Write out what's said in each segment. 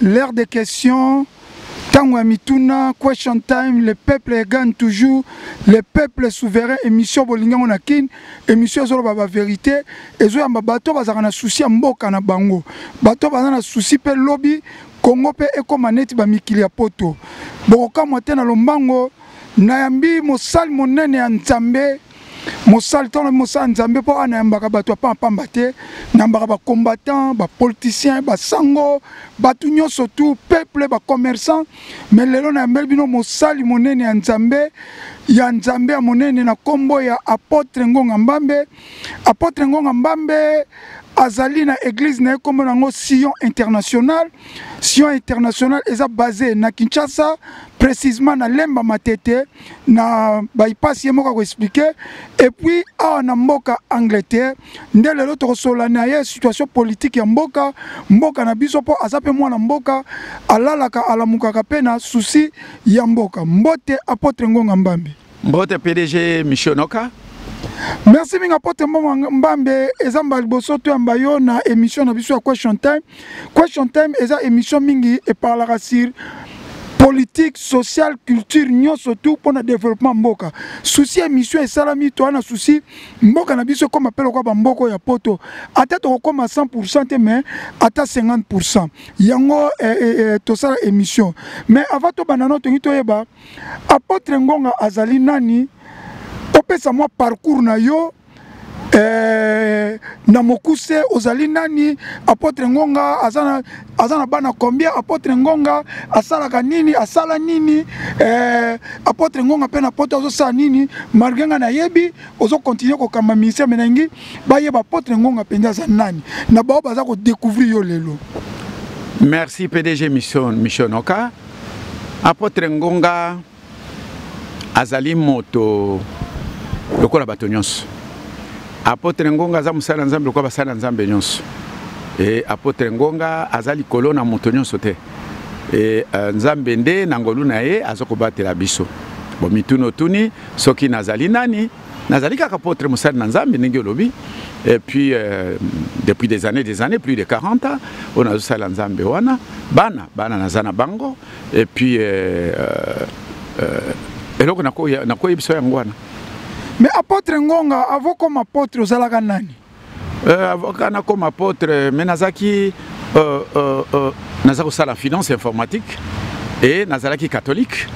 L'heure de question, tango ya mituna, question time, le peuple gagne toujours, le peuple souverain, émission bolingi yango na Kin, émission ezoloba ba vérité, ezoyamba bato bazalaka na souci ya mboka na bango, bato baza na souci mpe lobi Congo mpe ekoma neti ba mikili ya poto. Bokokamwa te na lombango, nayambi mosali monene ya Nzambe. mosali ntango na mosala nzambe mpo wana yambaka bato ya pampamba te nayambaka bacombattant bapoliticien basango bato nyonso tu peuple bacommerçant mai lelo nayambeli bino mosali monene ya nzambe ya nzambe ya monene na nkombo ya apotre ngonga mbambe apotre ngonga mbambe azali na eglise na ye nkombo na yango sion international sion international eza base na kinshasa précisement na lemba matete na bypass ye moko akoexplike epuis awa na mboka angleterre nde lelo tokosolola na ye situation politike ya mboka mboka na biso mpo aza mpe mwana mboka alalaka alamukaka mpe na susi ya mboka mbote apotre ngonga mbambi mbote pdg missionoka merci mingi apotre mbongo mbambe eza mbala liboso toyamba yo na émission na biso ya question time question time eza émission mingi eparlaka sur politique sociale culture nyonso tout mpo na développement mboka susi ya mission esalami toa na susi mboka na biso ekóma mpe lokola bamboko ya poto ata tokokóma 100 pourcent te mais ata 50 pourcent yango eh, eh, eh, tosala émission mais avant tobanda no tolingi toyeba apôtre ngonga azali nani opesa mwa parcours na yo eh, na mokuse ozali nani apotre ngonga aza na, aza na bana combien apotre ngonga asalaka nini asala nini eh, apotre ngonga mpe na poto azosala nini malgre ngai nayebi ozokontinue kokamba ministère menangi bayeba apotre ngonga mpenza aza nani na bao baza kodecouvrir yo lelo merci pdg mission, mission oka apotre ngonga azali moto lokola bato nyonso apotre ngonga aza mosali ya nzambe lokola basali ya nzambe nyonso e, apotre ngonga aza likolo na moto nyonso te e, e nzambe nde na ngolu na ye aza kobatela biso bomituni otuni soki nazali nani nazali kaka apotre mosali na nzambe ndenge olobi et puis euh, depuis des années des années plus de 40 ans oyo nazosala nzambe wana bana bana naza na bango et puis euh, euh, euh eloko nakoyebisa yango wana mais apôtre ngonga avo comme apôtre ozalaka nani euh, avoka nakoma apôtre mais nazalaki euh, euh, euh, naza kosala finance informatique e nazalaki catholique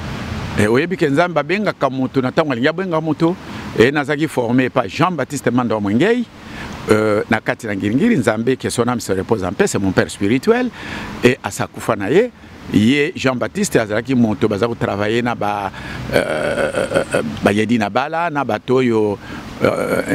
e, oyebi ke nzambe abengaka moto na ntango alingi abengaka moto e nazalaki forme epa jean baptiste manda wa mwengei Euh, na kati na ngiringiri nzambe que son âme se repose en paix c'est mon père spirituel et asakufa na ye ye jean baptiste azalaki moto baza kotravaille na ba euh, euh, euh, bayedi na bala na bato oyo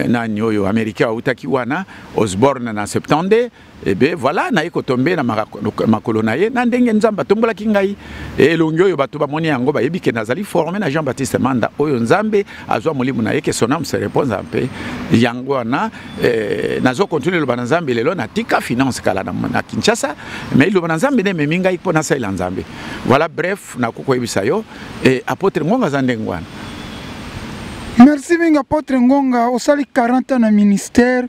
nani oyo américain autaki wana osborne na 72 ebe eh voilà naye kotombe na makolo na ye na ndenge nzambe atombolaki ngai elongi oyo bato bamoni yango bayebi ke nazali forme na jean baptiste manda oyo nzambe azwa molimo na ye ke son ame se repose en paix yango wana eh, nazo continue loba na nzambe lelo natika finance kala na, na kinshasa mais loba na nzambe nde ememi ngai mpo nasalela nzambe voilà bref nakoki koyebisa yo eh, apotre ngonga aza ndenge wana merci mingi apotre ngonga osali 40 ans na ministère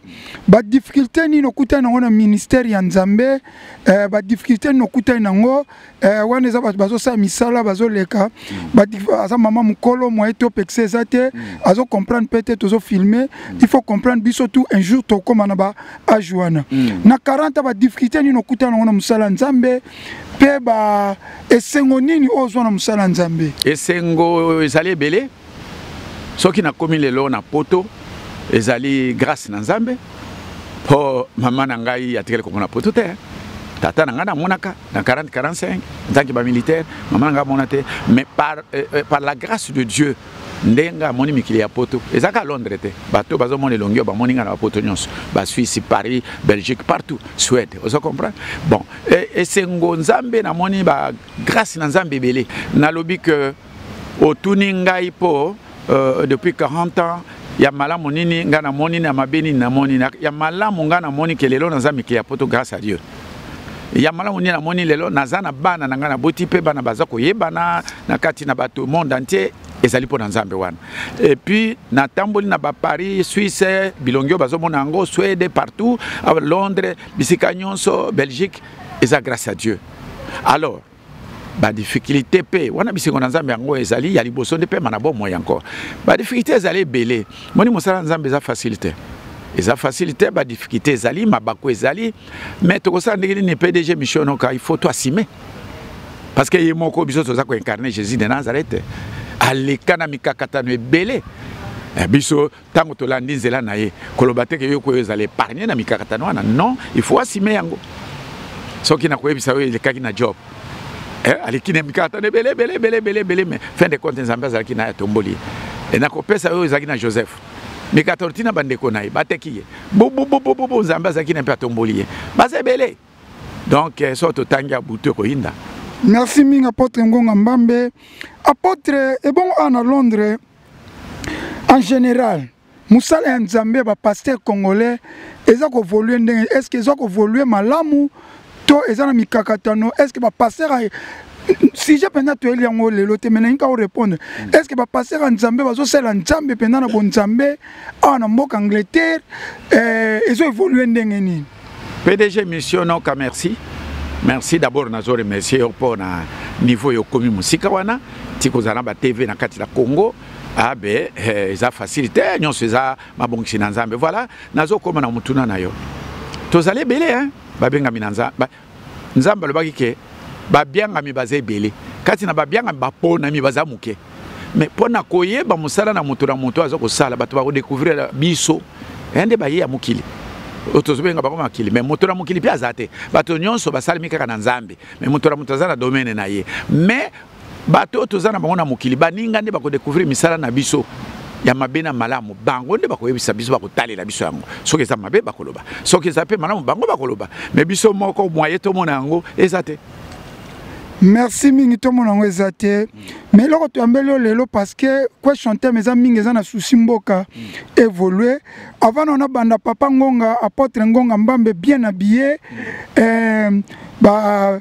badifficulté nini okutani nango na ministère ya nzambe eh, badifficulté nini okutani nango eh, wana eza bato bazosala misala bazoleka mm. aza mama mokolo moye to pekisa eza te mm. azo comprendre mpe te tozo filme mm. il faut comprendre biso tout un jour tokóma na ba age wana mm. na 40 badifficulté nini okutana yango na mosala nzambe mpe ba esengo nini oyo ozwa na mosala nzambe esengo ezali ebele soki nakomi lelo na poto ezali grâce na nzambe mpo mama na ngai atikali komona poto te tata na ngai namonaka na 40 45 ntanke bamilitaire mama na ngai amona te mais par, euh, euh, par la grâce de dieu ndenge amoni mikili ya poto eza ka londres te bato bazomona elongi oyo bamoni ngai na bapoto nyonso basuisse paris belgique partout suède ozo comprendre bon esengo nzambe namoni bagrâce na nzambe ebele nalobi que otuni ngai mpo uh, depuis 40 ans ya malamu nini ngai namoni na mabe nini namoni ya malamu ngai namoni ke lelo naza mikili ya poto grâce à dieu ya malamu nini namoni lelo naza na bana na ngai naboti mpe bana baza koyebana na kati na bato monde entier ezali mpo na nzambe wana epuis natamboli na baparis suisse bilongi oyo bazomona yango swede partout londres bisika nyonso belgique eza grâce à dieu alors badifficulté mpe wana bisengo na nzambe yango ezali ya liboso nde mpema na bomoi encore badifficulté ezali ebele moni mosala na nzambe eza facile te eza facile te badifficulté ezali mabaku ezali mais tokosala ndenge nini pdg missionoka il faut toasime parce que ye moko biso toza koincarne jésus de nazareth aleka na mikakatano ebele eh, biso ntango tolandi nzela na ye koloba te ke yo koyo ezala épargne na mikakatano wana non il faut asime yango soki nakoyebisa yo elekaki na job eh, aleki na mikakatano ebele ebele ebele ebele ebele mais fin de compte nzambe azalaki na ye atomboli ye e nakopesa oyo ezalaki na joseph mikakatano ntina bandeko na ye bateki ye bububububu nzambe azalaki na mpe atomboli ye baza ebele donc eh, so totangi ya butu ekoyinda merci mingi apotre ngonga mbambe apotre ebongo awa na londres en général mosala ya nzambe ya bapaster congolais eza kovolue ndenge est ce que eza kovolue malamu to eza na mikakatano est ce que bapaster sujet mpenza toyeli yango lelo te menalingi ka orépondre mm. est ce que bapaster ya nzambe bazosalela nzambe mpenza na bonzambe awa na mboka angleterre eh, ezo évolue ndenge nini pdg mission noka merci merci d'abord nazo remercier yo mpo na niveau yo okomi mosika wana ti kozala na batv na kati na congo abe ah, eh, eza facile te nyonso eza mabongisi na nzambe voilà nazokoma na motuna na yo tozali ebele babengami na nzambe nzambe alobaki ke babiangami baza ebele kati na babiangami baponami baza moke me mpo na koyeba mosala na moto na moto aza kosala bato bakodekouvrira biso ya eh, nde baye ya mokili oyo tozobenga bango makili me moto na mokili mpe aza te bato nyonso basalemi kaka na nzambe me moto na moto aza na domene na ye me bato oyo toza na bango na mokili baninga nde bakodecouvrir misala na biso ya mabe na malamu bango nde bakoyebisa biso bakotalela biso yango soki eza mabe bakoloba soki eza mpe malamu bango bakoloba me biso moko mwaye tomona yango eza te merci mingi tomona yango eza te mais eloko toyambeli yo lelo parce que question teme eza mingi eza na souci mboka évolue avant na nabanda papa ngonga apotre ngonga mbambe bien habillé euh, ba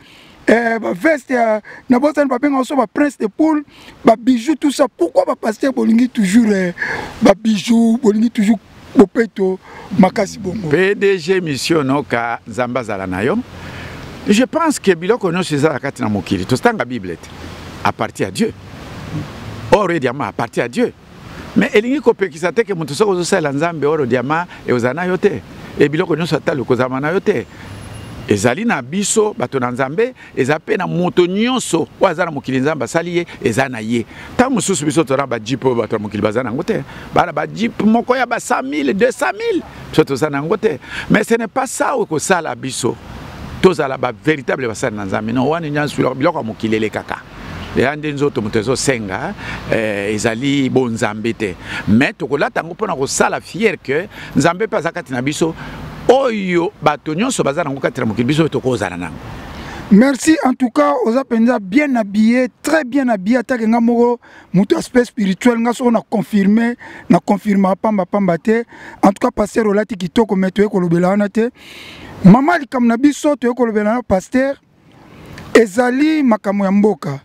eh, ba veste ya na bosani babengaka so ba prince de poule ba bijoux tout ça pourquoi ba pasteur bolingi toujours eh, ba bijoux bolingi toujours bopeto makasi bongo pdg mission noka nzambe azala na yo je pense que biloko nyonso ezala kati na mokili tozotanga bible te aparti ya dieu or ediama aparti ya dieu mais elingi kopekisa te ke moto soki ozosalela nzambe oro diama ekozala na yo te e biloko nyonso atali okozalama na yo te ezali na biso bato na nzambe eza mpe na moto nyonso oyo aza na mokili nzambe asali ye eza na ye ntango mosusu biso toza na bajipe oyo bato ya mokili baza na yango te baa na bajipe moko ya ba 100 000 200 000 biso toza na yango te mais ce n'est pas ça oyo ekosala biso tozala bavéritable basali na nzambe no wana nyonso biloko ya mokili elekaka eya nde nzoto moto ezosenga eh, ezali bonzambe te mais tokolata yango mpona kosala fiere ke nzambe mpe aza kati na biso oyo bato nyonso baza nango kati na mokili biso oyo tokozala nango merci en tout cas oza mpenza bien habillé très bien habillé atake nga moko moto aspect spirituel nga soko na confirme na confirma pamba pamba te en tout cas paster olati kitoko me toye kolobela wana te mama likambo na biso toye kolobela na paster ezali makambo ya mboka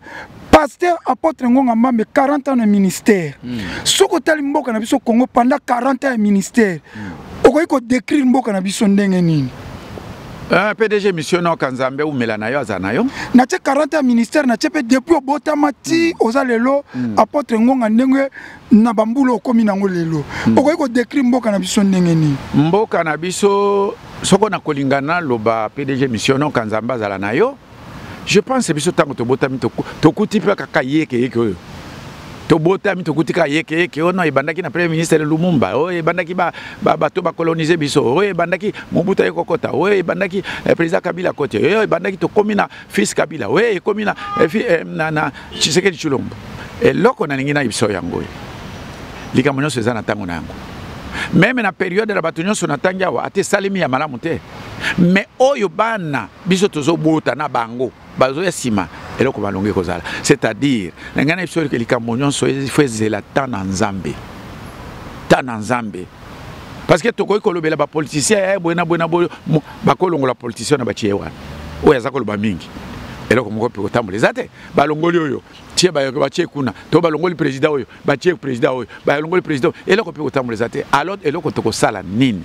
pasteur apôtre ngonga mbambe 40 ans na ministère mm. soki otali mboka na biso congo pendant 40 ans ya ministère mm. okoki kodécrire mboka na biso ndenge nini Uh, eh, pdg mission noka nzambe umela na yo aza na yo natie 40 ya ministère natie mpe depuis obotama ti mm. oza lelo mm. apôtre ngonga ndenge na bambula okomi nango lelo mm. okoki kodekri mboka na biso ndenge nini mboka na biso soko na kolinga naloba pdg missiono kanzambe azala na yo je pense biso ntango tobotami tokuti mpe kaka yekeyeke oyo tobotami tokuti kaka yekeyeke oyo no ebandaki na premier ministre lumumba oyo ebandaki bato bakolonise biso oyo ebandaki mobutu aye kokota oyo ebandaki eh, président kabila koti oyo ebandaki tokomi na fils kabila we ekomi na, eh, eh, na, na tshisekedi tshilombo eloko nalingi na biso yango oyo likambo nyonso eza na ntango na yango meme na periode na bato nyonso natangi awa ata esalemi ya malamu te me oyo bana biso tozobota na bango bazoya nsima eloko balongi kozala c'est-à-dire na ngai na biso likambo nyonso ifo ezela temps na nzambe temps na nzambe parce que tokoki kolobela bapoliticien ya eh, boye na boye na boye bakolongola politicien na batie wana oyo aza koloba mingi eloko moko mpe kotambola eza te balongoli oyo tie batie kuna to balongoli président oyo batie président oyo balongoli président eloko mpe kotambola eza te alors eloko tokosala nini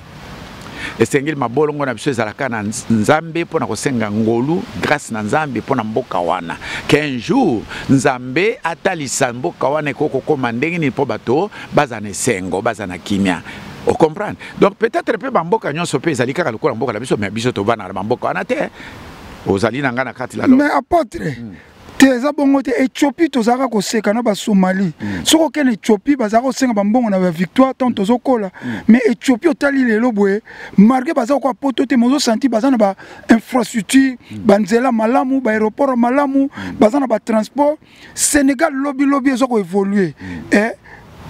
esengeli mabolongo na biso ezalaka na nzambe mpo na kosenga ngolu grâce na nzambe mpo na mboka wana qu'un jour nzambe atalisa mboka wana ekoki kokóma ndenge nini mpo bato baza na esengo baza na kimia o comprendre donc peut-être mpe bamboka nyonso mpe ezali kaka lokola mboka na biso mais biso tovanda na bamboka wana te ozali na ngai na kati la mais apotre mm. te eza bongo te ethiopie tozalaka koseka na basomali mm. soki okende ethiopie bazalaka kosenga bambongo na bavictoire ntango mm. tozokola mm. mais ethiopie otali lelo boye marke baza kokoa poto te mozosanti baza na bainfrastructure mm. banzela malamu baaéroport malamu mm. baza na batransport Sénégal lobi lobi ezo ko évoluer mm. eh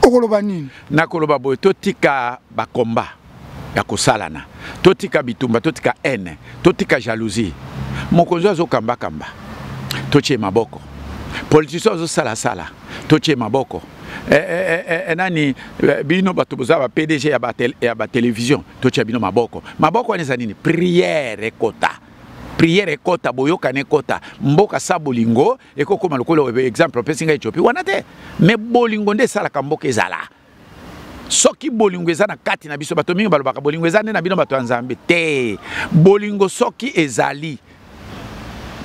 okoloba nini nakoloba boye totika ba combat ya kosalana totika bitumba totika haine totika jalousie mokonzi azo kamba kamba totie maboko politicien azo sala sala totie maboko eh, eh, eh, eh, nani eh, bino bato boza ba pdg ya ba, tel, ya ba télévision totia bino maboko maboko wana eza nini prière ekota prière ekota boyokani ekota mboka sa bolingo ekokoma lokola oyo exemple opesi ngai ethiopie wana te mais bolingo nde esalaka mboka ezala soki bolingo eza na kati na biso bato mingi balobaka bolingo eza nde na bino bato ya nzambe te bolingo soki ezali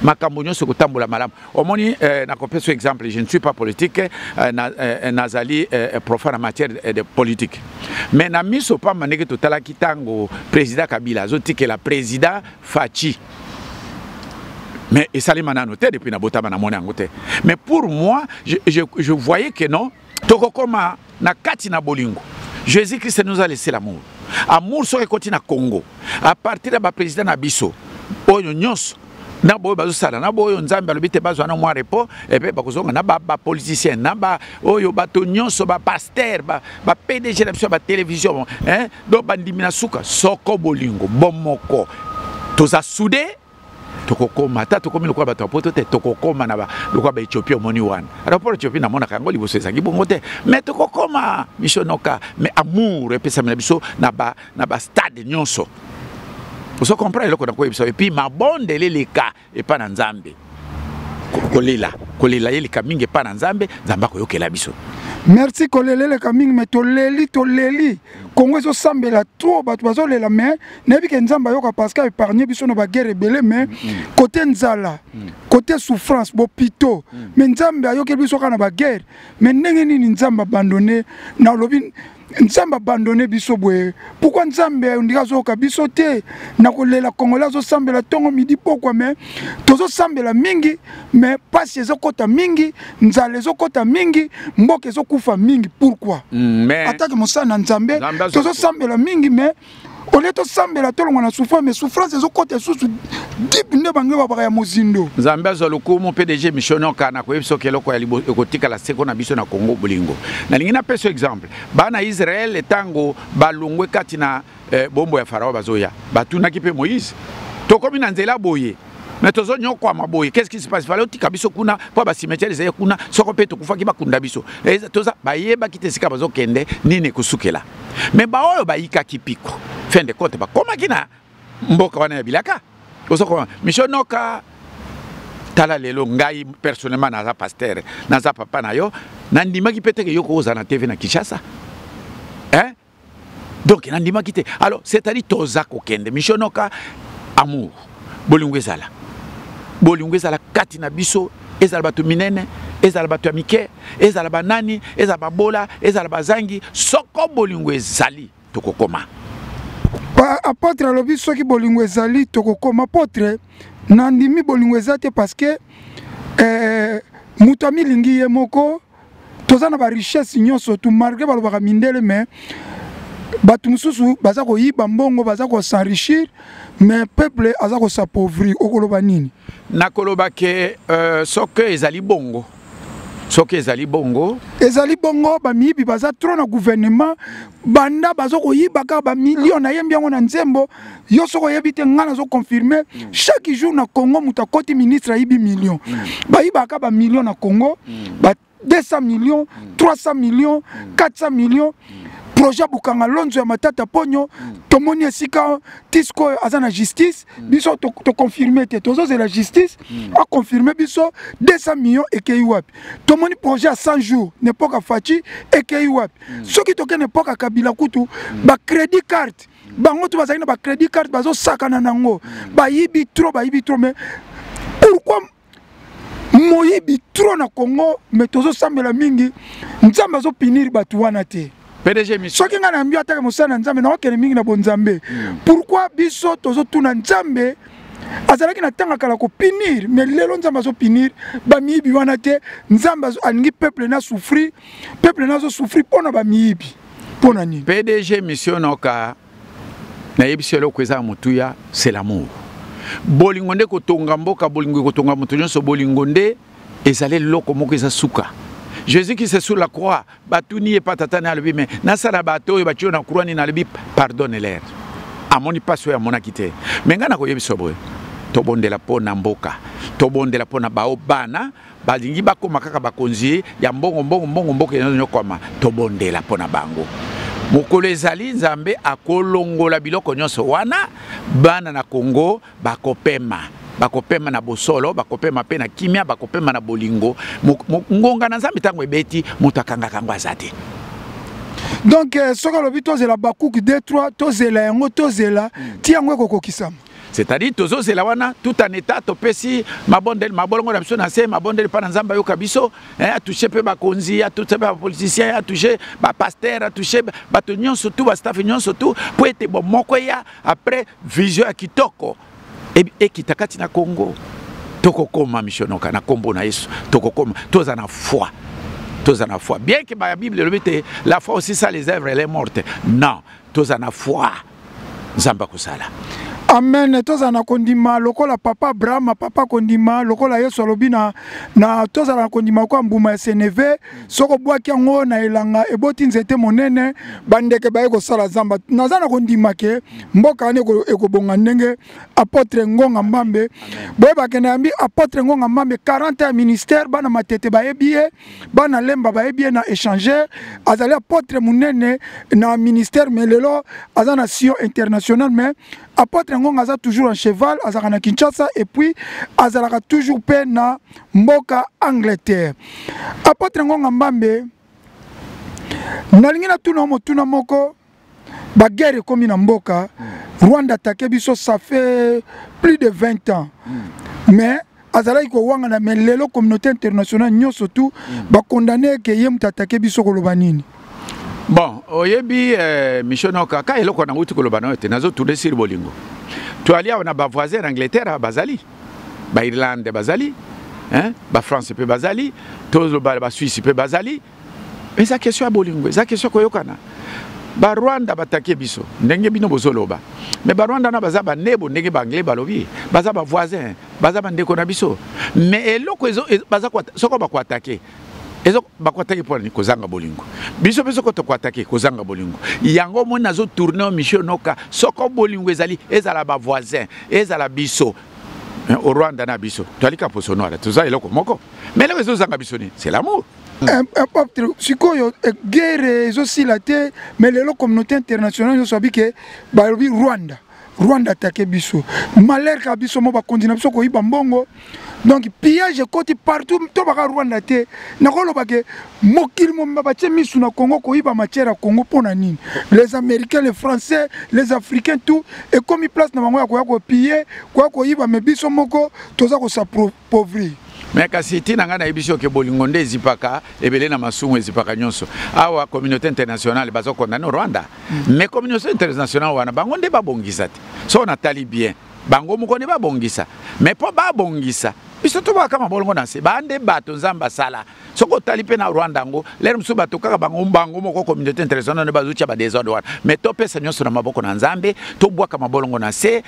makambo nyonso ekotambola malamu omoni eh, nakopesa exemple je ne suis pas politique eh, na, eh, nazali eh, profane en matière eh, de politique mais na miso pamba ndenge totalaki ntango président kabila azotikela président faci mais esalema nano te depuis nabotama namona yango te mais pour moi je, je, je voyais que non tokokoma na kati na bolingo jésus christ nous a laissé l'amour amour soki ekoti na congo à partir ya baprésident na biso oyo nyonso na boyo bazosala na boyo nzambe alobi te bazwa na mwa repos epe bakozonga na bapoliticien na baoyo bato nyonso bapaster bapdg na biso ya batelevizio donc bandimi na suka soko bolingo bomoko toza soude tokokoma ata tokomi lokola bato ya poto te tokokoma na lokola baethiopie omoni wana rapport ethiopie namonaka yango liboso ezalaki bongo te mais tokokoma misonoka mais amour epesami na biso na bastade nyonso ozo comprendre eloko nakoyebisa epuis mabondeli leka epai na nzambe kolela kolela yeleka mingi epai na nzambe nzambe akoyokela biso merci kolela eleka mingi me toleli toleli kongo ezosambela trop bato bazolela me nayebi ke nzambe ayoka parce que aépargne biso na baguerre ebele me kote mm, mm. nzala mm. kote souffrance bopito me nzambe ayokeli biso kaka na baguerre me ndenge nini nzambe abandone nalobi nzambe abandone biso boye pourkui nzambe ondiki azoyoka biso te na kolela congolais azosambela ntongo midi pokwa me tozosambela mingi me mpasi ezokɔta mingi nzala ezokɔta mingi mboka ezokufa mingi pourkui mm, atake mosala na nzambe tozosambela mingi me olie tosambela tolongwa na souffrance mais souffrance ezokota lisusu dipe nde bange babaka ya mozindo nzambe azwa lokumu pdg misionoka na koyebisa oke eloko ya ekotikala seko na biso na congo bolingo nalingi napesa exemple bana israel ntango balongwe kati na eh, bombo ya farao bazoya batunaki mpe moïse tokomi na nzela boye mais tozo nyokwama boye qu'est-ce qui se passe fale otika biso kuna mpo bacimetiere ezali kuna soko mpe tokufaki bakunda biso toza bayebaki te esika bazokende nini ekosukela mais baoyo bayikaki piko fin de compte bakomaki na mboka wana ya bilaka ozokoma misio noka tala lelo ngai personnellement naza pasteur naza papa na yo nandimaki mpe teke yo kokozala na tv na kinshasa donc nandimaki te alors c'est-à-dire toza kokende michio noka amour bolingo ezala bolingo ezala kati na biso ezala bato minene ezala bato ya mike ezala banani ezala babola ezala bazangi soko bolingo ezali tokokoma apotre alobi soki bolingo ezali tokokoma apotre nandimi bolingo eza te parce que eh, moto amilingi ye moko toza na ba richesse nyonso tu malgré balobaka mindele mais bato mosusu baza koyiba mbongo baza kosenrichir mais peuple aza kosapauvrir okoloba nini nakoloba ke euh, soki ezali bongo soki ezali bongo ezali bongo bamiyibi baza trop na gouvernement banda baza koyiba kaka bamilio nayembi yango na nzembo yo soki oyebi te ngai nazo confirme mm. chaque jour na congo moto akoti ministre ayibi million mm. bayibaka bamillion na congo mm. ba 200 million 300 million 400 million projet bukanga lonzo ya matata ponyo tomoni esika tisko oyo aza na justice biso toconfirme te tozozela justice aconfirme biso 200 million ekei wapi tomoni projet ya 100 jours nepoka faci ekei wapi soki tokende mpoka kabila kutu bacrédit carte bango to bazali na ba credit card bazo sakana nango bayibi trop bayibi trop mais pourquoi moyibi trop na Congo mais tozo sambela mingi nzambe azo punir bato wana te soki ngai nayambi atake mosala na nzambe nakokende mingi na bonzambe hmm. pourkui biso tozotuna nzambe azalaki na ntango kala kopinir me lelo nzambe azopinir bamiyibi wana te nzambe alingi peuple na souffrir peuple na azosouffrir mpo na bamiyibi mpo na nini pdg mission noka nayebisi eloko eza ya motuya c'est l'amour bolingo nde kotonga mboka bolingo ekotonga moto nyonso bolingo nde ezali eloko moko eza suka jésus qui se sur la croix batuni ye pa tata ne alobi me nasala bato oyo batio na croix nini alobi pardonne ler amoni mpasi oyo amonaki te me ngai nakoyebisa boye tobondela mpo na mboka tobondela mpo na bao bana balingi bakoma kaka bakonzi ya mbongo mbongo mbongo mboka enonyokwama tobondela mpo na bango mokolo ezali nzambe akolongola biloko nyonso wana bana na kongo bakopema bakopema na bosolo bakopema mpe na kimia bakopema na bolingo ngonga na nzambe ntango ebeti moto akangaka yango aza te donc euh, soki alobi tozela bakuki d3 tozela yango tozela hmm. ti yango ekokokisama c'est-à-dire tozozela wana tout en état topesi mabondeli mabolongo na biso na se mabondeli mpa na nzambe ayoka biso eh, atouche mpe bakonzi atouche mpe bapoliticien atouche bapaster atouche bato nyonso tu bastafe nyonso tu mpo ete bomoko eya après vision ya kitoko e, ekita kati na congo tokokoma misionoka na nkombo na yesu tokokoma toza na foi toza na foi bien ke bible elobi te la foi aussi ça les œuvres elle est morte non toza na foi nzambe akosala amen tozala na kondima lokola papa abrahama papa kondima lokola yesu alobi na, na tozala na kondima lokola mbuma ya seneve soki obwaki yango na elanga eboti nzete monene bandeke baye kosala zamba naza na kondima ke mboka wana ekobonga ndenge apotre ngonga mbambe boyebake na yambi apotre ngonga mbambe 40 ya ministère bana matete bayebi ye bana lemba bayebi ye na échangeur azali apotre monene na ministère mais lelo aza na sio international mais apotre ngonga aza toujours en cheval azalaka na kinshasa et puis azalaka toujours mpe na mboka angleterre apotre ngonga mbambe nalingi natuna motuna moko ba guerre ekomi na mboka mm. rwanda atake biso ça fait plus de 20 ans mm. mais azalaki kowangana mais lelo communauté internationale nyonso tout mm. bakondane eke ye moto atake biso koloba nini bon oyebi eh, michel noka ka eloko nango ti koloba nayo te nazotuna siri bolingo toali awa na bavoisin na angleterre bazali bairlande bazali bafrance mpe bazali tozobala basuisse mpe bazali eza question ya bolingo eza question koyokana barwanda batake biso ndenge bino bozoloba me barwanda wana baza banebo ndenge baanglais balobi baza bavoisin baza bandeko na biso me eloko soko bakoatake bakoatake mpo nani kozanga bolingo biso mpe soko tokoatake kozanga bolingo yango omoni nazotourne o michel noka soko bolingo ezali ezala bavoisin ezala biso o rwanda na biso toalika poso noire toza eloko moko me eloko ezozanga biso nini c'est l'amour impacte sikoyo eh, guerre ezosila te mais lelo communauté internationale nyonso abi ke balobi rwanda rwanda atake biso malheur ka biso mo bakonzi na biso koyiba mbongo donc pillage ekoti partout to baka rwanda te nakoloba ke mokili mobimba batie misu na congo koyiba matière ya congo mpo na nini les américains les français les africains tout ekomi place na bango ya koya kopille koya koyiba me biso moko toza pauvri me kasi ntina ngai nayebisi yo ke bolingo nde ezipaka ebele na masumu ezipaka nyonso awa communauté internationale baza condamne rwanda mm. mais communauté internationale wana bango nde babongisa te so natali bien bango moko nde babongisa mais mpo babongisa biso tobwaka mabolongo na nse bande bato nzambe asala soki otali mpe na rwanda yango lere mosusu bato kaka bango bango moko communauté internationale bazotya badesordre wana mais topesa nyonso na maboko na nzambe tobwaka mabolongo na se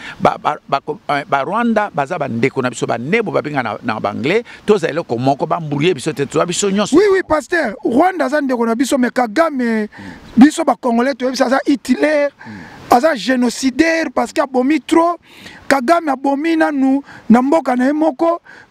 barwanda eh, baza bandeko na biso banebo babenga na, na banglais tozala eloko moko bambulie biso te toza biso nyonso oui oui pasteur rwanda aza ndeko na biso mais kagame biso bacongolais toyebisa aza hitler mm. aza génocidaire parce que abomi trop kagame abomi nanu na mboka na ye moko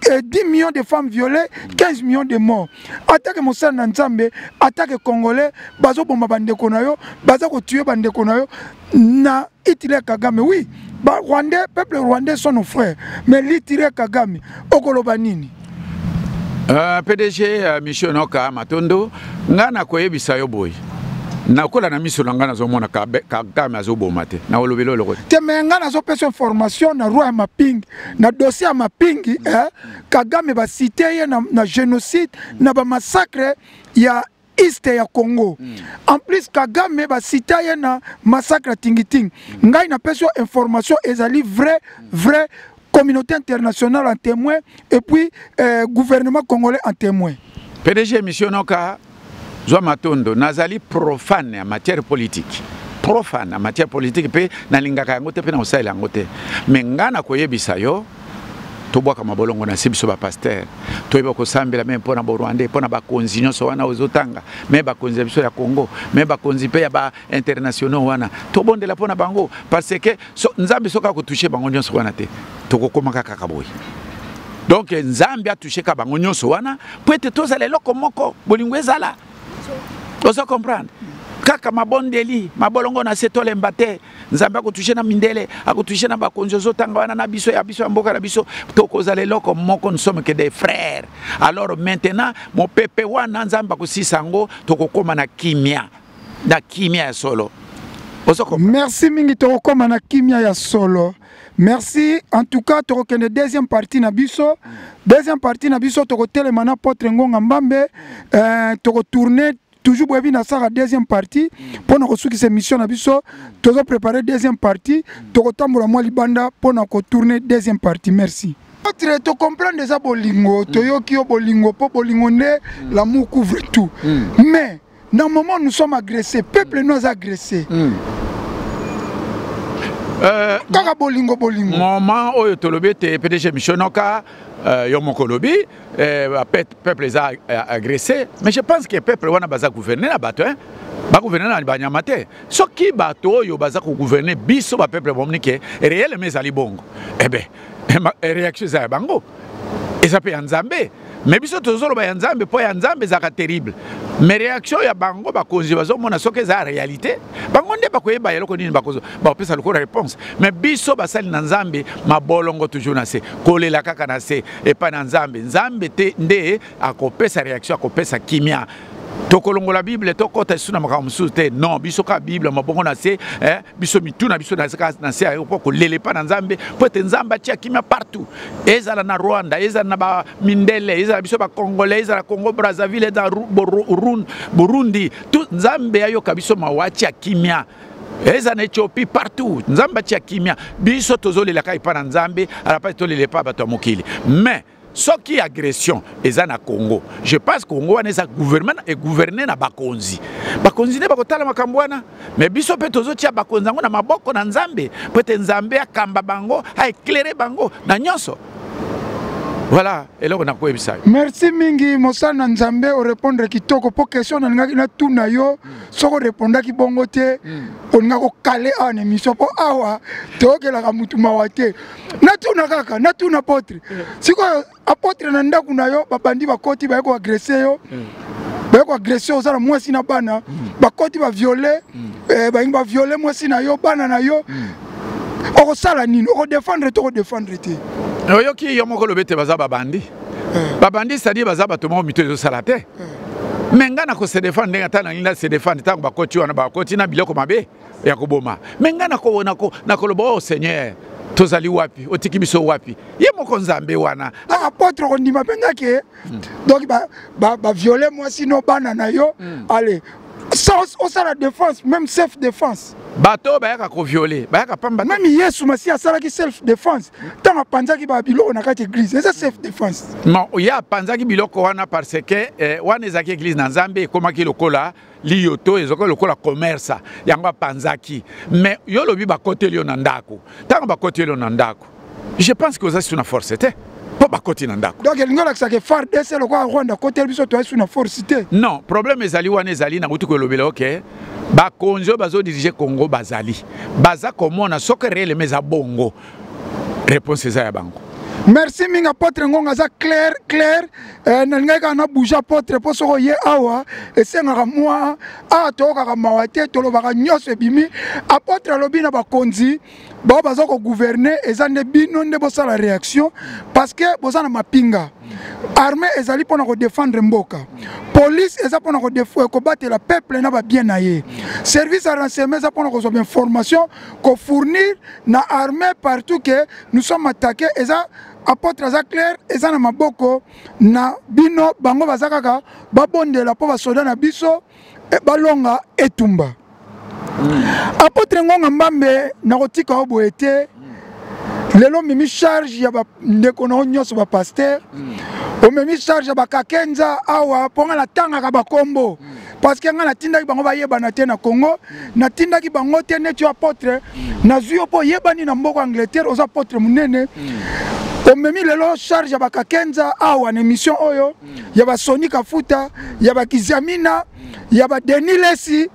que 10 millions de femmes violées, 15 millions de morts. Attaque Moussa Nanzambe, attaque Congolais, bazo bomba bande konayo, bazo ko tuer bande konayo, na Hitler Kagame, oui, ba Rwandais, peuple rwandais sont nos frères, mais l'Hitler Kagame, okoloba nini? Euh, PDG euh, Michel Noka Matondo, nga na koyebisa yo boye. nakola na miso na ngai nazomona kagame azoboma te naolobeli oloko te me ngai nazopesa information na roi ya mapingi na dossier ya mapingi eh, kagame basite ye na, na génocide na bamassacre ya east ya congo mm. en plus kagame basita ye na massacre ya tingitingi mm. ngai napesi yo information ezali vrai mm. vrai communauté internationale en témoin et puis euh, gouvernement congolais en témoin pdg émission noka Zwa matondo, nazali profane ya matière politique profane na matière politique mpe nalingaka yango te mpe na kosalela yango te me ngai nakoyebisa yo tobwaka mabolongo na se biso bapaster toyeba kosambela me mpo na borwandais mpo na bakonzi nyonso wana ozotanga me bakonzi ya biso ya congo me bakonzi mpe ya internationaux wana tobondela mpo na bango parce que so, nzambe soki akotouche bango nyonso wana te tokokomaka kaka boye donk nzambe atoucheka bango nyonso wana mpo ete tozala eloko moko bolingo ezala ozo comprendre kaka mabondeli mabolongo na se tolemba te nzambe akotushe na mindele akotushe na bakonzi ozotanga wana na biso ya biso ya mboka na biso tokozala eloko moko nsome ke des frères alors maintenant mopepe wana nzambe akosisa yango tokokóma na kimia na kimia ya solo merci mingi tokokoma na kimia ya solo merci en tout cas tokokende deuxième partie na biso deuxième partie na biso tokotelema na potre ngonga mbambe euh, tokotourne toujours boyebi nasaka deuxième partie mpo na kosukisa émission na biso tozo préparer deuxième partie tokotambola mwa libanda mpo na kotourne deuxième partie merci autre tocomprendre eza bolingo toyoki yo bolingo mpo bolingo nde l'amour couvre tout mm. mais na moment nous sommes agressés peuple nous aza agressé mm. euh, kaka bolingo bolingo moment oyo tolobi ete pdg mishonoka euh, yo moko olobi euh, peuple eza euh, agressé mais je pense que peuple wana baza gouverne na bato hein? bagouverne na banyama te soki bato oyo baza kogouverne biso bapeuple bomoni ke reyelema ezali bongo ebe eh eh, eh, réaction eza ya bango eza mpe ya nzambe mais biso tozoloba ya nzambe mpo ya nzambe ezalaka terrible mais réaction ya bango bakonzi bazomona soki eza réalité bango nde bakoyeba eloko nini bakozo bakopesa lokola réponse mais biso basali na nzambe mabolongo toujours na se kolela kaka na se epai na nzambe nzambe te nde akopesa réaction akopesa kimia tokolongola bible tokɔta lisusu na makambo mosusu te non biso kaka bible mabongo na se eh? biso mitu na biso nazaka na se ayo mpo kolela epai na nzambe mpo ete nzambe atia kimia partout ezala na rwanda ezala na bamindele ezala biso bacongolais ezala congo brazzaville ezala burundi tu nzambe ayoka biso mawa atia kimia eza na ethiopie partout nzambe atia kimia biso tozolelaka epai na nzambe alapasi tolela epai bato ya mokili mais soki agression eza na congo je pense congo wana eza gouvernement e gouverne na bakonzi bakonzi nde bakotala makambo wana me biso mpe tozotia bakonzi yango na maboko na nzambe mpo ete nzambe akamba bango aeklere bango na nyonso voilà eloko nakoyebisa yo merci mingi mosali na nzambe orépondre kitoko mpo question nalingaki natuna yo mm. soki orépondaki bongo te mm. olinga kokale awa na émission mpo awa toyokelaka motu mawa te natuna kaka natuna apotre mm. sikoyo apotre na ndako na yo babandi bakoti baye koagrese yo mm. baye koagrese yo oza na mwasi na bana mm. bakoti baviole eh, balingi baviole mwasi na yo bana na yo okosala nini okodefendre te okodefendre te oyoki yo moko lobi ete baza babandi eh. babandi sadi baza bato moko mito ezosala te eh. me ngai na kosedefendre ndenge ata nalingi na sedefendre ntango bakoti wana bakoti na biloko mabe ya koboma me ngai nakoloba oyo oh, seigneur tozali wapi otiki biso wapi ye moko nzambe wana ah, apotre kondima mpe nga ke hmm. donc baviole mwasi no bana na yo hmm. ale osala défense même self défense bato oyo bayaka koviole bayaka pamba meme yesu masiya asalaki self défense ntango apanzaki babiloko na kati église eza self défense non ye apanzaki biloko wana parce que eh, wana ezalaki église na nzambe ekomaki lokola liyoto ezokoki lokola commerce yango apanzaki mais yo olobi bakoteli yo na ndako ntango bakoteli yo na ndako je pense que oza su na force te mpo bakoti na ndako donc elingi olakisaka fardc lokola rwanda akoteli biso toyai su na force te non problème ezali wana ezali nakuti kolobela oke bakonzi oyo bazodirige congo bazali baza komona soki reelema eza bongo réponse eza ya bango merci mingi apotre ngonga aza claire claire eh, nalingaki kaka na bouge apotre mpo soko ye awa esengaka mwa awa toyokaka mawa te tolobaka nyonso ebimi apotre alobi na bakonzi bao baza kogouverne eza nde bino nde bosala réaction parce que boza na mapinga armée ezali mpona kodefendre mboka police eza mpona euh, kobatela peuple na babien na ye service ya renseignement eza mpona kozwa bainformation kofournir na armée partout que nous sommes attaqués eza apôtre aza claire eza na maboko na bino bango baza kaka babondela mpo basoda na biso eh, balonga etumba mm. apôtre ngonga mbambe nakotika yo boye te mm. lelo omemi charge ya bandeko na yo nyonso bapaster mm. omemi charge ya bakakenza awa mpo ngai natangaka bakombo mm. parce que ngai natindaki bango bayebana te na congo natindaki bango te neti yo apotre nazwi yo mpo oyebani na mboka angleterre oza apotre monene omemi lelo charge ya bakakenza awa na émission oyo ya basoni kafuta ya bakiziamina ya badeni lesi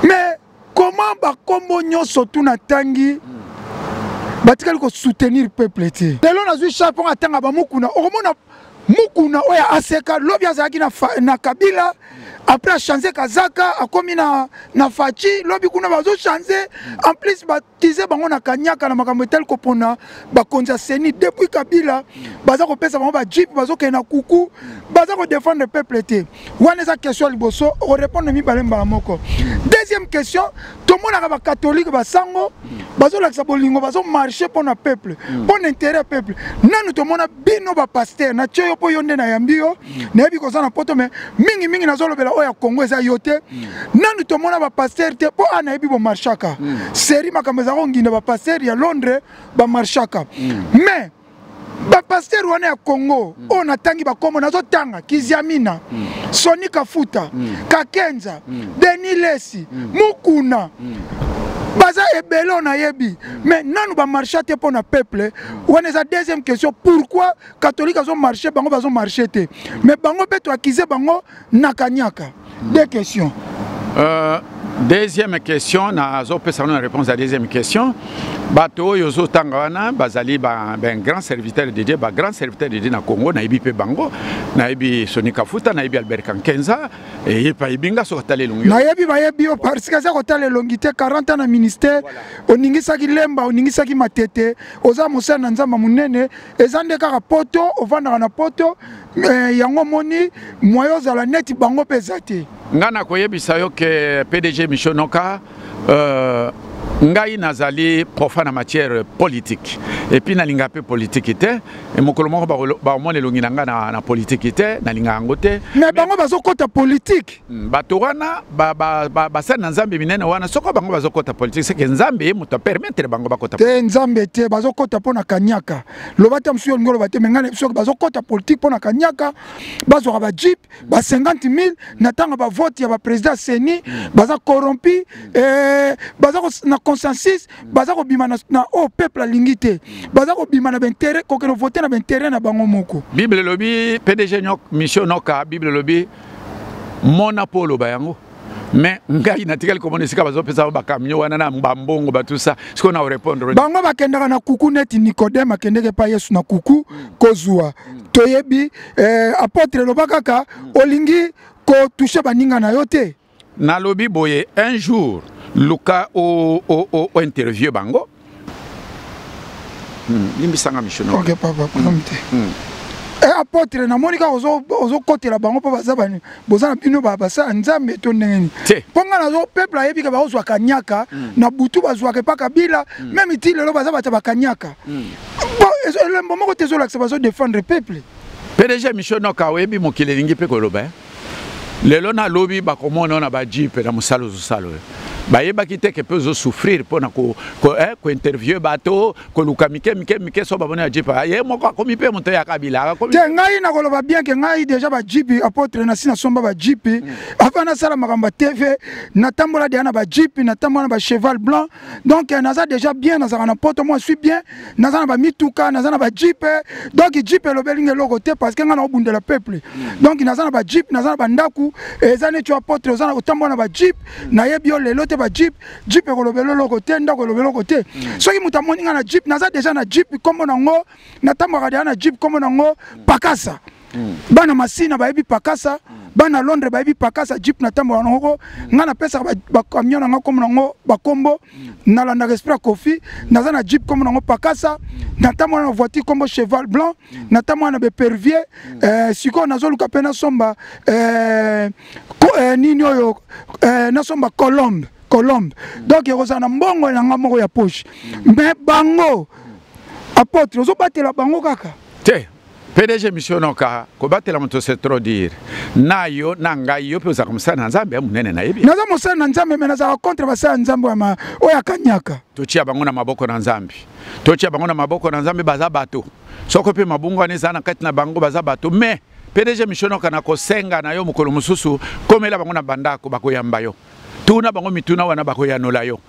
mais comment bakombo nyonso tu natangi hmm. batikali kosoutenir peuple te lelo nazwi charge mpo atanga bamukuna okomona mukuna oyo aseka lobi azalaki na, na kabila après achange kazaka akomi na, na faci lobi kuna bazochange en plus bat tize bango na kanyaka na makambo etali kopona bakonzi ya seni depuis kabila baza kopesa bango bajipe bazokende na kuku baza kodefendre peuple te wana eza question ya liboso okorepondre mibale mbala moko deuxième question tomonaka bakatholike basango bazolakisa bolingo bazomarche mpo na peuple mpo na intérêt ya peuple nanu tomona bino bapaster natye yo mpo yo nde nayambi yo mm. nayebi koza na poto me mingimingi nazolobela oyo ya kongo eza yo te mm. nanu tomona bapaster te mpo a nayebi bomarchaka mm. seri makambo eza konginda bapaster ya londres bamarchaka mais bapaster wana ya congo mm. oyo natangi bakombo nazotanga kiziamina mm. soni kafuta mm. kakenza mm. denis lesi mm. mukuna mm. baza ebele oyo nayebi mm. mais nanu bamarcha te mpo na peuple wana eza deuxième question pourquoi catholique azo marché bango bazo marché te mais bango mpe toakize bango na kaniaka deux questions euh, deuxième question nazopesa na réponse ya deuxième question bato oyo ozotanga wana bazali ba, ba grand serviteur de dieu bagrand serviteur de dieu na congo nayebi mpe bango nayebi soni kafuta nayebi albert kankenza nayebi bayebi yo parceke aza kotala elongi te 40 ans na ministère oningisaki lemba oningisaki matete oza mosali na nzambe monene eza nde kaka poto ovandaka na poto eh, yango omoni moye ozala neti bango mpe eza te ngai nakoyebisa yo ke pdg michonoka Euh, ngai nazali profa na matière politique epuis nalinga mpe politiki te e mokolo moko bakomona elongi na ngai na, na politiki te nalinga yango te me bango bazokɔta politiki hmm, bato wana basali ba, ba, na nzambe minene wana soko bango bazokɔta politiki seke nzambe ye moto apermettre bango bakɔta te nzambe te bazokɔta mpo na kaniaka loba te mosusu yo olingi oloba te me ngai na biso bazokɔta politiki mpo na kaniaka bazwaka bajipe ba 50 000 na ntango ba vote ya ba président seni baza corrompu eh, baza na consensus baza kobima na, na oyo oh, peuple alingi te baza kobima na baintérêt kokende vote na baintérêt na bango moko bible elobi pdg mission noka bible elobi mona mpo oloba yango mais ngai natikali komona esika bazopesa bango bakamio wana na bambongo batusa sikoyo na orepondre bango bakendaka na kuku neti nikodeme akendeke epai yesu na kuku kozwa toyebi eh, apotre eloba kaka olingi kotushe baninga na yo te nalobi boye un jour luka ointerview bango Hmm, limbisa nga mishono ok papa problème te hmm. hmm. eh, apotre namoni kaka ozokotela bango mpo baza bani boza na bino basala nzambe to ndenge nini mpo ngai nazo peuple ayebi ke bakozwa kanyaka na butu bazwaka epa kabila meme ti lelo baza bato bakanyaka elembo moko te ezolakisa bazodefendre peuple pdg michonoka oyebi mokili elingi mpe koloba eh? lelo na lobi bakomona na bajipe na mosala ozosala oyo bayebaki te ke mpe ozosouffrir mpo na kointerviewe eh, bato koluka mike mike mike so bamoni ya jipe ah, ye moko akomi mpe moto ya kabila akomi te ngai nakoloba bien ke ngai deja bajipe apotre nasi nasomba bajipe mm. avant nasala makambo ya tv natambola deja na bajipe natambola na bacheval blanc donc euh, naza déjà bien nazalaka na poto moi suis bien naza na bamituka naza na bajipe euh, donc jipe elobeli nga eloko te parce que ngai naobundela peuple mm. donc naza na bajipe naza na bandako eza neti apotre oza otambola na bajipe mm. nayebi yo lelo te bajipe jipe ekolobela eloko te ndako elobela eloko te mm. soki moto amoni ngai na jipe naza déjà na jipe nkombo nango natambwaka deja na jipe nkombo nango pakasa mm. bana masina bayebi pakasa mm. bana londres bayebi pakasa jeep na tambola nangoko mm. ngai napesaka bacamion na ngai kombo nango bakombo mm. nalandaka esprit ya kofi mm. naza na jeep kombo nango pakasa mm. natambola na voiture kombo cheval blanc mm. natambola na bepervier mm. eh, sikoyo nazoluka mpe nasomba eh, ko, eh, nini oyo eh, nasomba colombe colombe mm. donc ekozala na mbongo na ngai moko ya poche mm. mais bango apotre ozobatela bango kaka te pdg misionoka kobatela moto se trop dire na yo na ngai yo mpe ozalaka mosali na nzambe ya monene nayebi naza mosali na nzambe me nazalaka contre basali ya nzambe oyo akanyaka totia bango na maboko na nzambe totia bango na maboko na nzambe baza bato soko mpe mabungu wana ezala na kati na bango baza bato me pdg misionoka na kosenga na yo mokolo mosusu komela bango na bandako bakoyamba yo tuna bango mituna wana bakoyanola yo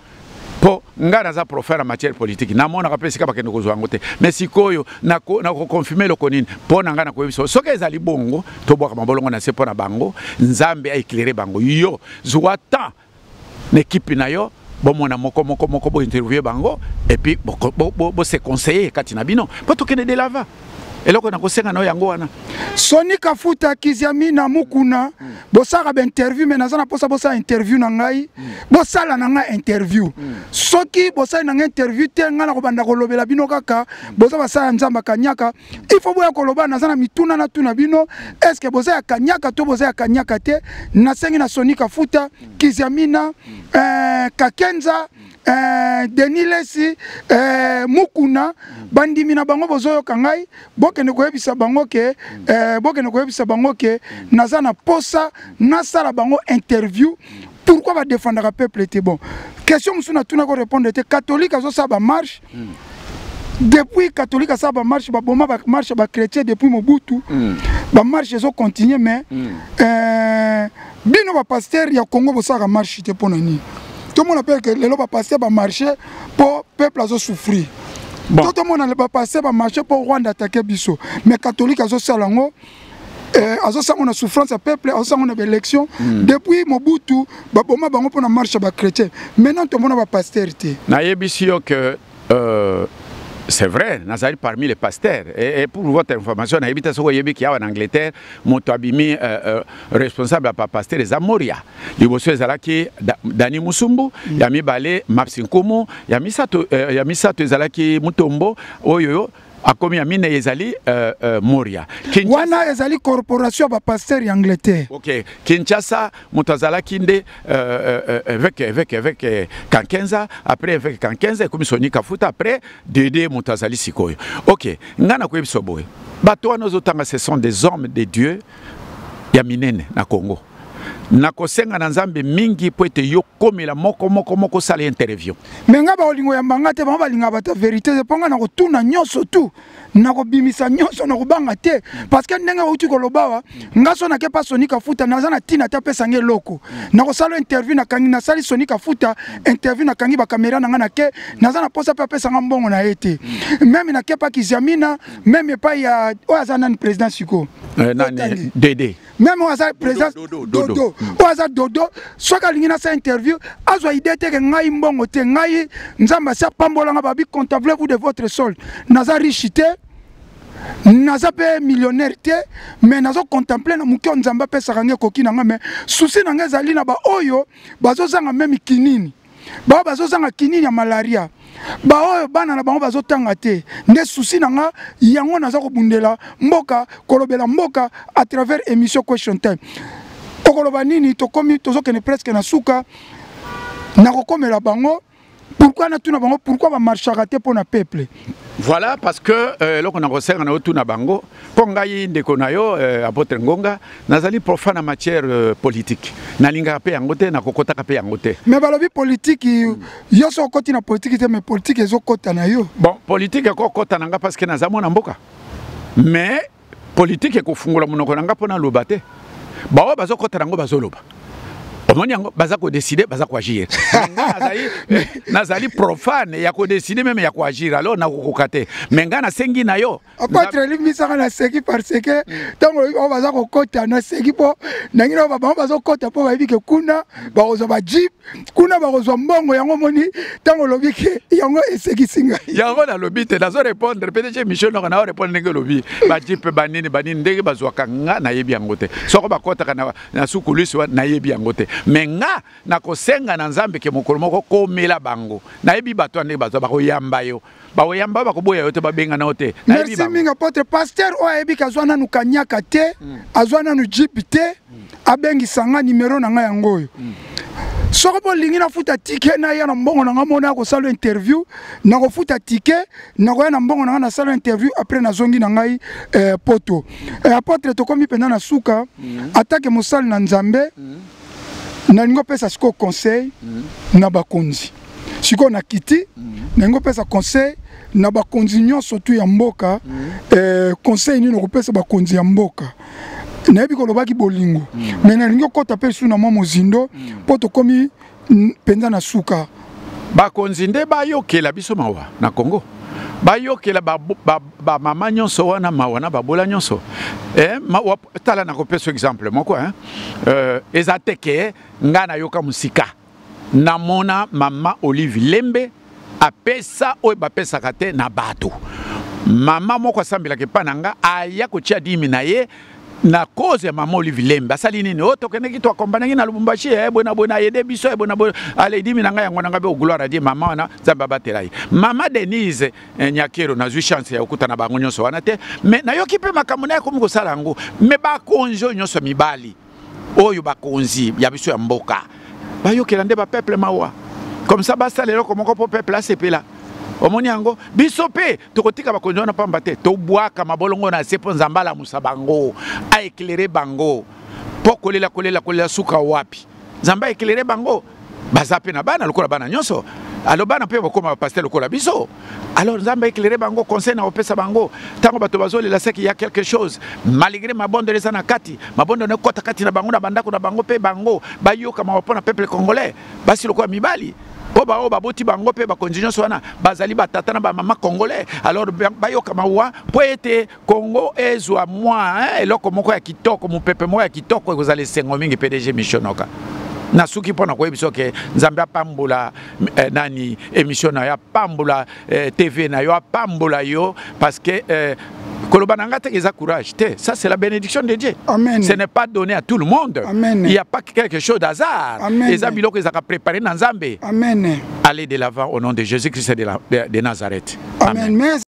mpo ngai naza profere ya matière politique namonaka mpe esika bakende kozwa yango te mais sikoyo nakokonfirme eloko nini mpo na ngai nakoyebi solo soki ezali bongo tobwaka mabolongo na se mpo na bango nzambe aeclaire bango yo zwa temps na ekipe na yo bomona moko moko moko bointerviewe bango epuis bose conseiller kati na bino mpo tokende de lava eloko nakosenga na yo yango wana soni kafuta kiziamina mukuna mm. bosalaka bainterview me naza na mposa bosala interview na ngai mm. bosala na ngai interview mm. soki bosali na ngai interview te ngai nakobanda kolobela bino kaka mm. boza basala ya nzambe kanyaka il faut boya koloba naza na mituna natuna bino est ce que boza ya kanyaka to boza ya kanyaka te nasengi na soni kafuta mm. kiziamina mm. eh, kakenza mm. Eh, denis lesi eh, mukuna bandimi na bango bozoyoka ngai bokende koyebisa bango ke eh, bokende koyebisa bango ke naza na posa nasala bango interview pourquoi badefendaka peuple te bon question mosusu natuna ko répondre te catholique azosala bamarche mm. depuis catholique asala bamarche baboma bamarche bachrétien depuis mobutu mm. bamarche ezocontinue mais mm. euh, bino ba pasteur ya Congo bosaka marche te pona nini tomona pe que lelo ba pasteur ba marche po peuple azo souffrir bon. to tomona ba pasteur ba marche po Rwanda attaquer biso mais catholique azo sala ngo eh, azosango na souffrance ya peuple azosango na baélection mm. depuis mobutu baboma bango mpo na marche ya bachrétien maintenant tomona bapastere te nayebisi yo ke Euh, c'est vrai nazali parmi les pasteurs et, et pour votre information nayebi te soki oyebi kiawa na angleterre moto abimi euh, euh, responsable ya bapasteur eza moria liboso ezalaki da, dani musumbu mm. ya mibale mapsi nkumu ya misato, euh, ya misato ezalaki mutombo oyo akomi ya minei ezali uh, uh, moria Kinshasa. wana ezali corporation ya bapasteur ya angleterre ok kinshasa moto azalaki nde uh, uh, eveke eveke eveke kankenza après eveke kankenza ekomi soni kafuta après dede moto azali sikoyo ok ngai nakoyebisa boye bato wana ozotanga ce sont des hommes de dieu ya minene na congo nakosenga na nzambe mingi mpo ete yo komela moko moko moko osala interview me ngai bakolingo ya mbanga te bango balingaka bato ya verité te mpo ngai nakotuna nyonso tu nakobimisa nyonso nakobanga te parce que ndenge outi koloba wa ngai so nake mpa soni kafuta naza na ntina te apesa ngai eloko nakosala interview nakangi nasali soni kafuta interview nakangi bakamera na ngai nake naza na mposa mpe apesa ngai mbongo na ye te meme nake mpa kiziamina meme epai ya oyo aza nani président siko eh, nani dede meme oyo aza présence dodo oyo aza dodo soki alingi nasa interview azwa idée te ke ngai mbongo te ngai nzambe asi apambolanga babi contemple vous de votre sol naza riche te naza mpe millionnaire te mais nazo contemple na moke oyo nzambe apesaka ngai ekoki na ngai mais souci na ngai ezali na baoyo bazozanga meme kinini baoyo bazozanga kinini ya malaria baoyo bana na bango bazotanga te nde susi na nga yango naza kobundela mboka kolobela mboka à travers émission question time okoloba nini tokomi tozokende presque na suka nakokomela bango pourquoi natuna bango pourquoi bamarchaka te mpo na peuple voilà parce que euh, eloko euh, nakosenga na otuna bango Mpo ngai ndeko na yo eh, Apotre Ngonga nazali profane na matière eh, politique nalingaka mpe yango te nakokotaka mpe yango te me balobi politiki mm. yo so okoti na politiki te me politiki ezokota na yo bon politiki ekokota na ngai parce que naza mwana mboka me politiki ekofungola monoko na ngai mpo naloba te baoyo bazokota na yango bazoloba omoni yango baza kodeside baza koagir nazali profane ya kodeside meme ya koagir alors nakokoka te me ngai nasengi na yo okotra limbisa nga naseki parce que ntango oyo baza kokɔta naseki mpo nangi na bango bazokɔta mpo bayebi ke kuna bakozwa bajip kuna bakozwa mbongo yango omoni ntango olobi ke yango esekisi ngai yango nalobi te nazo répondre pdg émission noko nao répondre ndenge olobi bajip banini banini ndenge bazwaka nga nayebi yango te soko bakɔtaka na, na sukulisi wana nayebi yango te me nga nakosenga na nzambe ke mokolo moko komela bango nayebi bato ya ndenge bazwa bakoyamba yo baoyamba bakoboya yo te babengana yo te merci mingi apotre pasteur oyo ayebi ke azwa nanu kanyaka te mm. azwa nanu jip te mm. abengisa nga nimero na ngai yango oyo mm. soki bolingi nafuta tike naya na mbongo na ngai mona ya kosala interview nakofuta tike nakoya na mbongo na ngai nasala interview après nazongi na ngai eh, poto eh, apotre tokomi mpenza na suka mm. atake mosali na nzambe mm. nalingi opesa sikoyo conseil mm. na bakonzi sikoyo na kiti mm. nangi opesa conseil na bakonzi nyonso tu ya mboka mm. eh, conseil nini okopesa bakonzi ya mboka nayebi kolobaki bolingo mm. me nalingi okota mpe su na mwa mozindo mpo mm. tokomi mpenza na suka bakonzi nde bayokela biso mawa na congo bayokela bamama ba, ba, ba nyonso wana mawa na babola nyonso eh, mawa tala nakopesa exemple moko eh, ezate ke ngai nayoka mosika namona mama olive lembe apesa oyo bapesaka te na bato mama moko asambelaka epai na nga aya kotya dimi na ye na cause ya mama olive lembe asali nini oyo oh, tokendeki toakombanaki na lubumbashi ye eh, boye na boye na aide biso ye eh, boye na boye aledimi na ngai yango na ngai mpe ogloire adie mama wana nzambe abatela ye mama denise eh, nyakero nazwi chance ya kokutana bango nyonso wana te mais nayoki mpe makambo naye akomi kosala yango mais bakonzi oyo nyonso mibali oyo bakonzi ya biso ya mboka bayokela nde bapeuple mawa comme ça basala eloko moko mpo peuple asepela omoni yango biso mpe tokotika bakonzi wana mpamba te tobwaka mabolongo na se mpo nzambe alamusa bango aeklere bango mpo kolela kolela kolela suka wapi nzambe aeklere bango baza mpe na bana lokola bana nyonso alors bana mpe bakoma bapaster lokola biso alors nzambe éclaire bango conseil na kopesa bango ntango bato bazolela seki ya quelque chose malgré mabondelo eza na kati mabondelo na ekota kati na bango na bandako na bango mpe bango bayoka mawa mpo na peuple congolais basi lokola mibali mpo baoyo baboti bango mpe bakonzi nyonso wana bazali batata na bamama congolais alors bayoka mawa mpo ete Congo ezwa mwa eh, eloko moko ya kitoko mopepe moko ya kitoko ekozala esengo mingi pdg mishonoka nasuki mpo na koyebisa ke nzambe apambola eh, nani emission na yo apambola eh, tv na yo apambola yo parce que eh, koloba na ngai te eza courage te ça c'est la bénédiction de dieu Amen. ce n'est pas donné à tout le monde Amen. il y a pas quelque chose d'hasard eza biloko ezalaka préparé na nzambe Amen. allez de l'avant au nom de jésus christ de, la, de, de nazareth Amen. Amen.